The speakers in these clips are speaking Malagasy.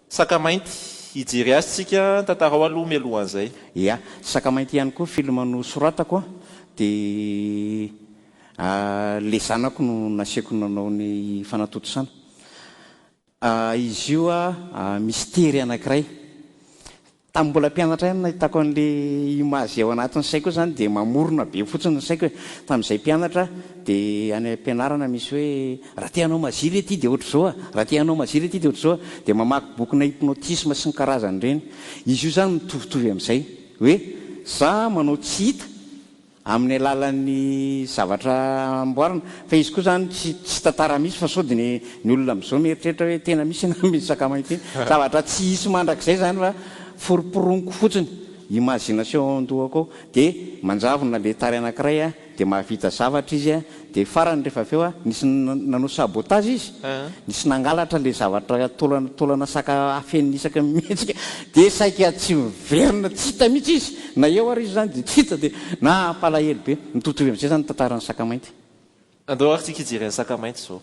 Saka mainty, hijery azy tsika, tantarao aloha mialohan'izay. Ia, Saka mainty ihany koa film nosoratako a, dia le zanako no nasiako nanao ny fanatontosana. Izy io a, mistery anankiray, Tamin'ny mbola mpianatra ihany nahitako an'ilay image izay ao anatin'ny saiko hoe izany dia mamorona be fotsiny ny saiko e. Tamin'izahay mpianatra dia any am-pianarana misy hoe raha te hanao magie ve ity dia ohatr'izao a, raha te hanao magie ve ity dia ohatr'izao a, dia mamaky bokina hypnotisme sy ny karazany ireny. Izy io izany mitovitovy amin'izay hoe za manao tsy hita, amin'ny alalan'ny zavatra amboarina fa izy koa izany tsy tsy tantara mihitsy fa sao dia ny ny olona amin'izao mieritreritra hoe tena misy ianao amin'iny sakamana ity zavatra tsy hisy mandrakizay izany fa foroporoniko fotsiny imagination ao an-dohako ao dia manjavona le tary anankiray dia mahavita zavatra izy Dia farany rehefa avy eo a, nisy nanao sabotage izy, nisy nangalatra ilay zavatra taolana taolana saka afenina isaka mihetsika, dia saika tsy miverina, tsy hita mihitsy izy, na eo ary izy izany dia tsy hita, dia nampalahelo be. Mitovitovy amin'izay izany ny tantaran'ny saka mainty. Andao ary tsika hijery an'i saka mainty izao.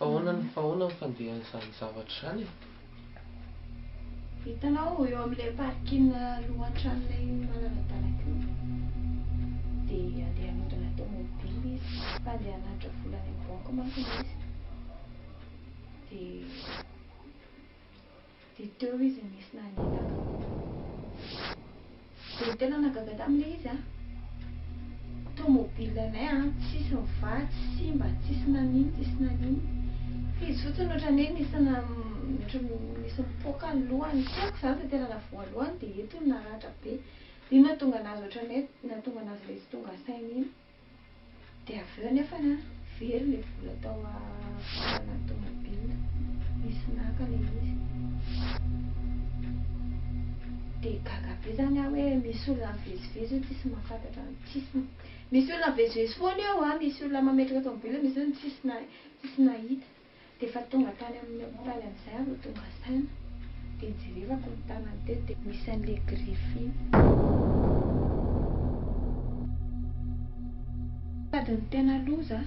Ahoana ny ahoana ny fandehan'izany zavatra izany e? Hitanao eo amin'ilay parking alohan'ny tranonay manara-dalana io dia andeha hanodina tomobile izy fa andeha hanatitra vola any amin'ny banky manko izy dia Dia teo izy nisy nanentana. Dia tena nahagaga taminy ilay izy an! Tomobile anay an, tsisy nivaha, tsy simba, tsisy nanino, tsisy nanino. Fa izy fotsiny ohatran'ny hoe nisy ohatran'ny nisy nipoaka ny lohany tsy haiko izany izay tena navoa lohany dia eto no naratra be. Dia iny nahatonga an'azy ohatran'ny hoe nahatonga an'azy ilay tsy tonga saina iny. Dia avy eo anefa na very ilay vola tao afaranà tômôbila, nisy naka ilay izy. Dia gaga be izany aho hoe misy olona mivezivezy io tsisy mahafantatra ny tsisy, misy olona mivezivezy foana eo an, misy olona mametraka tômôbila, misy olona tsisy tsisy nahita. Dia efa tonga tany amin'ny hopitaly amin'izay aho vao tonga saina, dia nijerevako ny tanany teto dia misy an'ilay griffe iny. Sady ny tena loza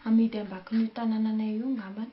amidy ambakin'io tanananay io ngambany.